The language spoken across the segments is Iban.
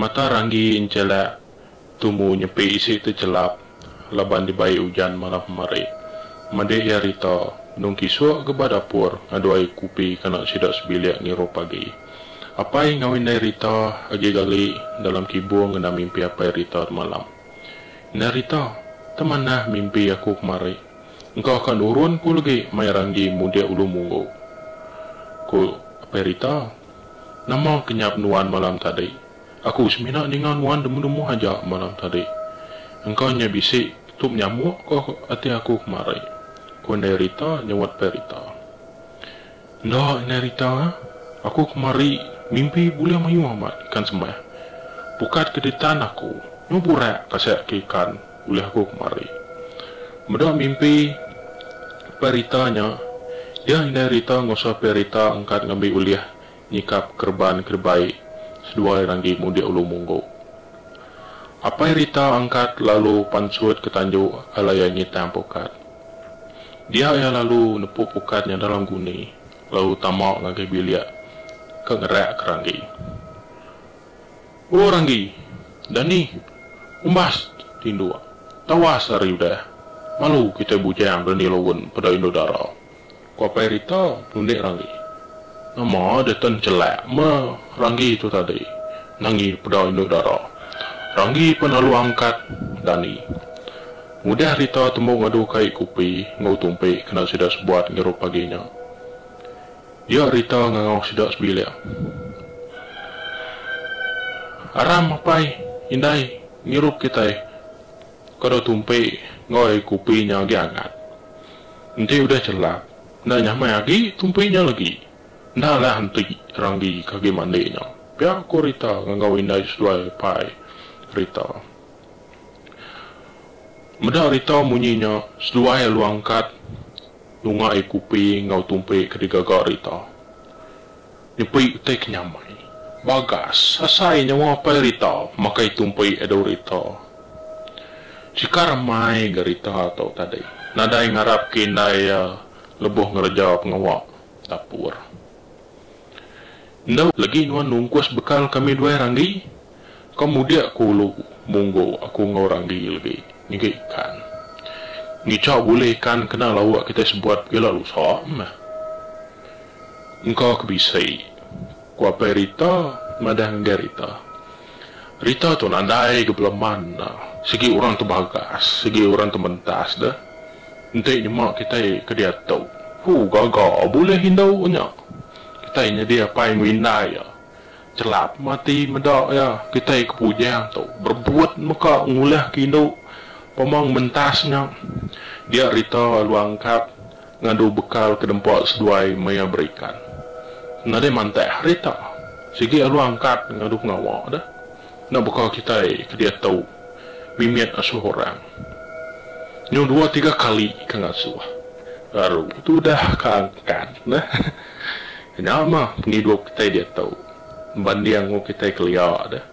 Mata ranggi encelak tumu nyepi isi tu chelap laban dibai ujan malam kemari. Meda iya Rita, Nung Kisuk ke ba dapur ngadu air kupi ke anak sida sebilik ngirup agi. Apai enggau indai Rita agi gali dalam kibung ngena mimpi apai Rita temalam. Indai Rita, Temanah mimpi aku kemari. Engka ka nurun ku legi mai ranggi mudik ulu munggu, ku apai Rita. Nama kenyap nuan malam tadi? Aku semina ninga nuan demuh-demuh aja malam tadi. Engka nya bisi tu menyamuk ke ati aku kemari, ku Endai Rita nyauat Pai Rita. Enda, Endai Rita. Aku kemari mimpi bulih mayuh amat ikan sembah. Pukat ke ditan aku, nyau burak kasik ke ikan. Ulah aku kemari. Meda mimpi Pai Rita nya, iya indai Rita ngusah Pai Rita angkat ngambi ulih nyikap kereban ke dibai seduai ranggi mudik Ulu Munggu. Apai Rita angkat lalu pansut ke tanju alai iya ngitang pukat. Dia iya lalu nepu pukat nya dalam guni lalu tama ngagai bilik ke ngerak ke ranggi. Ku Ranggi, Dani, umbas tinduk. Tawas ari udah. Malu kitai bujang Dani Lowen peda indu dara. Ku Apai Rita, nunding Ranggi. Nama deka nchelak meh Ranggi tu tadi nangi peda indu dara. Ranggi pan lalu angkat Dani. Ngudah Rita tembu ngadu kai kupi enggau tumpi kena sida sebuat ngirup pagi nya. Dia Rita ngangau sida sebilik. Aram apai indai ngirup kitai kada tumpi enggau ai kopi nya agi angat. Enti udah chelap enda nyamai agi tumpi nya legi. Enda lah enti ranggi ke agi mandi nya, pia ku Rita ngangau indai seduai apai Rita. Meda Rita munyi nya seduai alu angkat. Lunga ai Kupi enggau Tumpi ke digaga Rita. Nyepi utai ke nyamai. Bagas, asai nyawa apai Rita makai Tumpi adu Rita. Chika remai ga Rita tu tadi. Nadai ngarap ke indai iya lebuh ngereja pengawa dapur. Enda legi nuan nungkus bekal kami duai Ranggi? Ka mudik ku ulu Munggu aku enggau Randi legi nyiga ikan. Ngichau bulih ikan kena lauk kitai sebuat pila lusa meh. Engka ke bisi, ku apai Rita madah ngagai Rita. Rita tu nadai ga beleman enda, sigi orang tu bagas, sigi orang tu mentas deh. Enti nyema kitai ke diatu, hu gaga bulih indu nya. Kitai nyadi apai enggau indai iya. Chelap mati meda iya kitai ke Pujang tu berebut meka ngulahka indu pemang mentas nya. Dia rita alu angkat ngadu bekal ke nempa seduai maya berikan. Nadai mantak hari ta sigi alu angkat ngadu pengawa deh enda baka kitai ke diatu mimit asuh orang. Nyau dua tiga kali ke ngasuh baru tudah ke angkat neh. Nya mah pengidup kitai diatu banding enggau kitai kelia deh.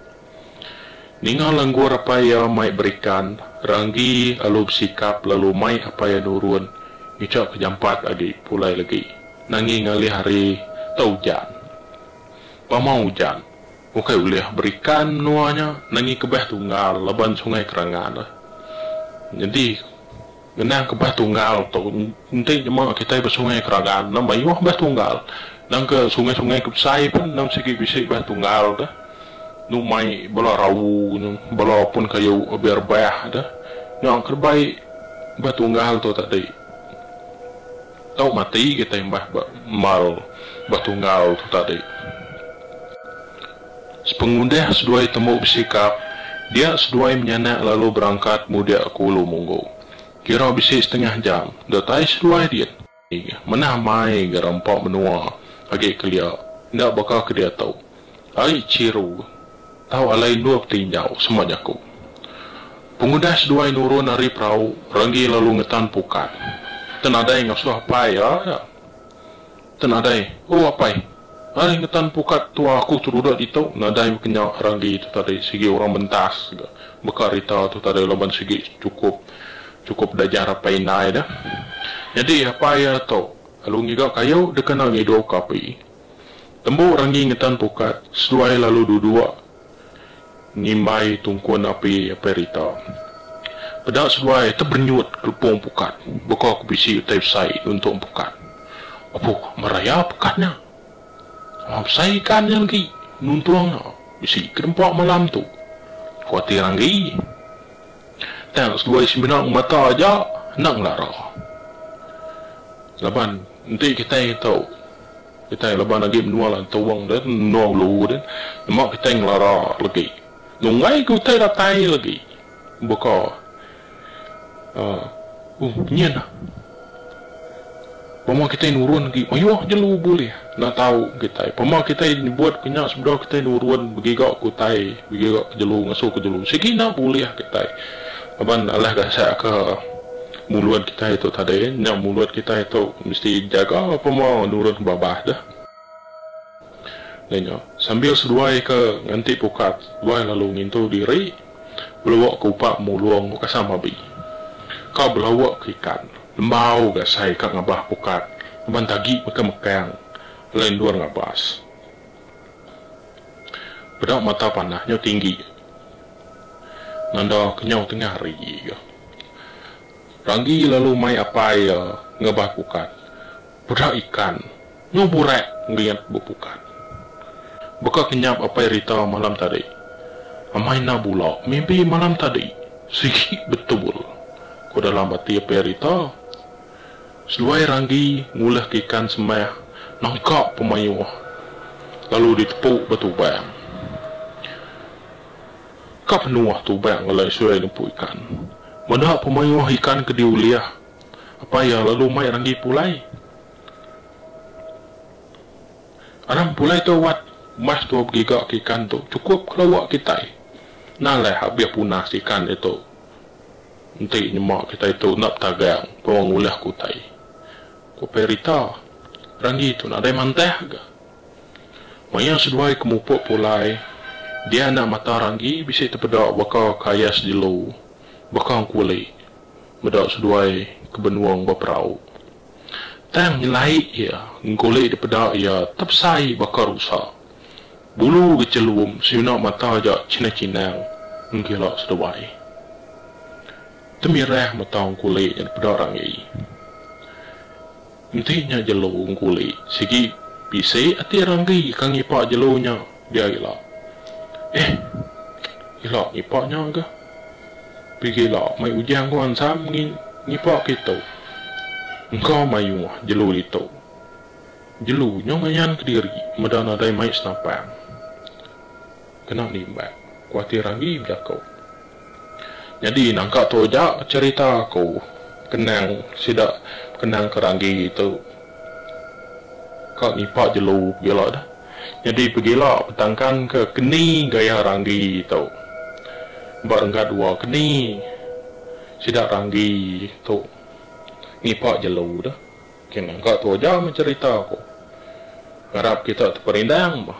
Ninga langgur apai iya mai berikan, Ranggi alu besikap lalu mai apai iya nurun ngicha ke jampat agi pulai legi nangi ngalih hari tau ujan. Pamau ujan, ukai ulih berikan menua nya nangi kebeh tunggal laban sungai kerangan. Nyadi. Ngena kebas tunggal tu enti nyema kitai ba Sungai Keragan endang mayuh bas tunggal. Endang ke sungai-sungai ke besai pun endang sigi bisi bas tunggal tu. Enu mai bala rau nya, bala pun kayu abi rebah tu. Nya ke bai bas tunggal tu tadi. Tau mati kitai mbah ba embal bas tunggal tu tadi. Sepengudah seduai tembu besikap, dia seduai menyanak lalu berangkat mudik ke Ulu Munggu. Kira bisi setengah jam, datai seduai din. Manah mai ga rampa menua agi kelia, enda baka ke diatu. Ari Chiru tau alai endur betinjau, sema jaku. Pengudah seduai nurun ari perau, Ranggi lalu ngetan pukat. Tenadai ngasuh apai iya. Te nadai, oh apai. Ai ngetan pukat tua aku tu dudok ditu, nadai meh kenya ragi tu tadi sigi orang bentas ga. Beka rita tu tadi laban sigi chukup chukup dajar apai indai deh. Nyadi apai iya tu lalu ngiga kayu dikena ngidup ka api. Tembu ragi ngetan pukat, seduai lalu dudok. Ngimbai tungkun api perita. Peda seduai teberenyut kelepong pukat baka ke bisi utai besai nuntung pukat. Abuh meraya pukat nya. Besai ikan nya enggi nuntung nya bisi ke nempa malam tu. Kuatir enggi. Tang seduai semina ngemata aja enda ngelara. Laban enti kitai tau. Kitai laban agi menua lantau wang deh menua ulu deh nyema kitai ngelara legi nunggai ke utai datai legi baka uhh nyin nah pama kitai nurun agi mayuh jelu bulih enda tau kitai pama kitai nyebut ke nya sebedau kitai nurun begiga ke utai begiga ke jelu ngasuh ke jelu sigi enda bulih kitai. Laban alah gacha ke mulut kitai tu tadi, nya mulut kitai tu mesti jaga pema nurun babah deh. Nya nya, sambil seduai ke nganti pukat tuai lalu ngintu diri, belawa ke upa mulung ke kasam abi. Ka belawa ke ikan, lembau ga sai ka ngabah pukat laban tagi mekang-mekang alai endur ngabas. Peda mata panah nyau tinggi. Nanda kenyau tengah hari ga. Ranggi lalu mai apai iya ngabah pukat. Peda ikan nyau burak ngelingat bepukat. Baka kenyap apai Rita malam tadi. Amai enda bula mimpi malam tadi. Sigi betul, ku dalam ati apai Rita. Seduai ranggi ngulahka ikan sembah nangka pemayuh lalu ditepu ba tubang. Ka penuh tubang alai seduai nempu ikan. Meda pemayuh ikan ke diulih apai iya lalu mai ranggi pulai. Anang pulai tu awat mas dua begigaka ikan tu chukup ke lawa kitai. Nalah abih punas ikan ditu. Enti nyema kitai tu enda betagang pun ngulah ke utai, ku Perita. Ranggi tu nadai mantah ga. Maya seduai ke mupuk pulai, dia anak mata Ranggi bisi tepeda baka ke ayas jelu, baka engkulit meda seduai ke benung ba perau. tang nyelaik iya ngulih dipeda iya tepesai baka rusa. Bulu gechelum senyunak mata aja chinang-chinang nggila seduai. Temirah mata ngulih nya dipeda Rangi. Enti nya jelu ngulih sigi bisi ati Rangi ka ngipak jelu nya. Dia ila. Eeh. Ila ngipak nya ga. Pigi ila mai ujang ko ansam ngi ngipak ke itu. Engka mayuh jelu ditu. Jelu nya ngayan kediri meda nadai mai senapang. Kena nimbak. Kuatir agi bejaku. Nyadi nangka tu aja cherita aku kenang sida kenang ke ranggi tu ka nipa jelu pegila dah. Nyadi pegila petangkan ke keni gaya ranggi tu ba renggat dua keni sida ranggi tu nipa jelu dah. Okey nangka tu aja meh cherita aku. Ngarap kita teperindang bah.